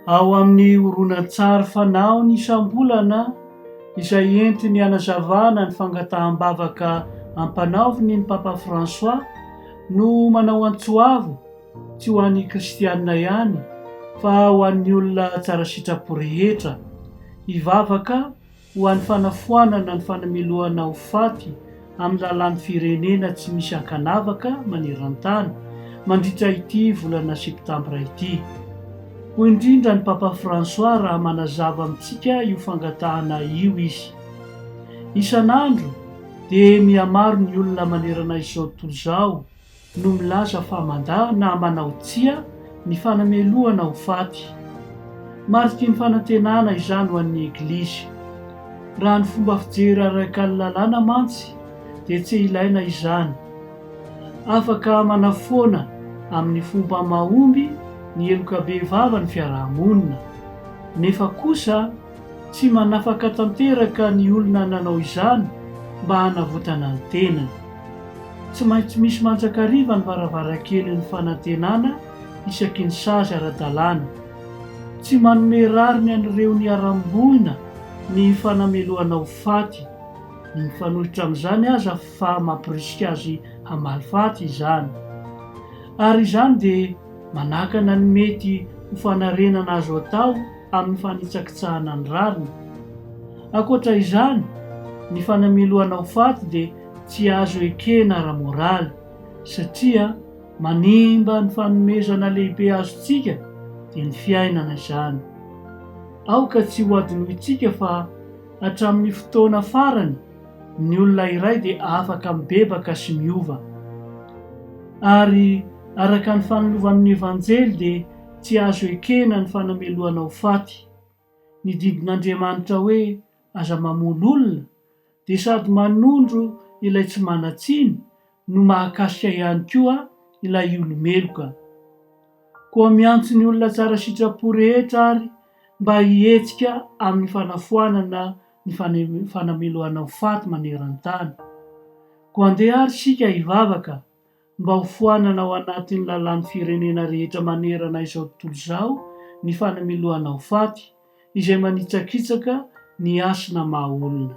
Ao amin'ny horonantsary fanahiny isam-bolana izay entiny hanazavana ny fangataham-bavaka ampanaoviny ny Papa François no manao antso avo tsy ho an'ny kristianina ihany fa ho an'ny olona tsara sitrapo rehetra. Hivavaka ho an'ny fanafoanana ny fanamilohana ho faty amin'ny lalàn'ny firenena tsy misy ankanavaka maneran-tany mandritra ity volana septambra ity, hoy indrindra ny Papa François raha manazava amintsika io fangatahana io izy. Isan'andro dia mihamaro ny olona manerana izao tontolo izao no milaza fa mandà na manao tsia ny fanamelohana ho faty. Mariky ny fanantenana izany ho an'ny Eglizy. Raha ny fomba fijery araka ny lalàna mantsy dia tsy ilaina izany. Afaka manafoana amin'ny fomba mahomby ny heloka bevava ny fiaraha-monina. Nefa kosa Tsy manafaka tanteraka ny olona nanao izany mba hanavotana ny tenany. Tsy maintsy misy mandrakariva ny varavarankelin'ny fanantenana isaky ny sazy ara-dalàna. Tsy manome rariny an'ireo niharam-boina ny fanamelohana ho faty, ny mifanohitra amin'izany aza fa mampirisika azy hamaly faty izany. Ary izany dia manakana ny mety ho fanarenana azo atao amin'ny fanitsakitsahana ny rariny. Ankoatra izany, ny fanamelohana ho faty dia tsy azo ekena ara-moraly, satria manimba ny fanomezana lehibe azontsika, dia ny fiainana izany. Aoka tsy hohadinointsika fa hatramin'ny fotoana farany, ny olona iray dia afaka mibebaka sy miova. Ary araka ny fanilovan'ny Evanjely dia Tsy azo ekena ny fanamelohana ho faty. Ny didin'Andriamanitra hoe aza mamono olona dia sady manondro ilay tsy manan-tsiny no mahakasika ihany koa ilay olo-meloka. Koa miantso ny olona tsara sitrapo rehetra ary mba hihetsika amin'ny fanafoanana ny fanamelohana ho faty maneran-tany. Koa andeha ary isika hivavaka Mba ho foanana ao anatin'ny lalàn'ny firenena rehetra manerana izao tontolo izao ny fanamiloana ho faty, izay manitsakitsaka ny hasina maha olona.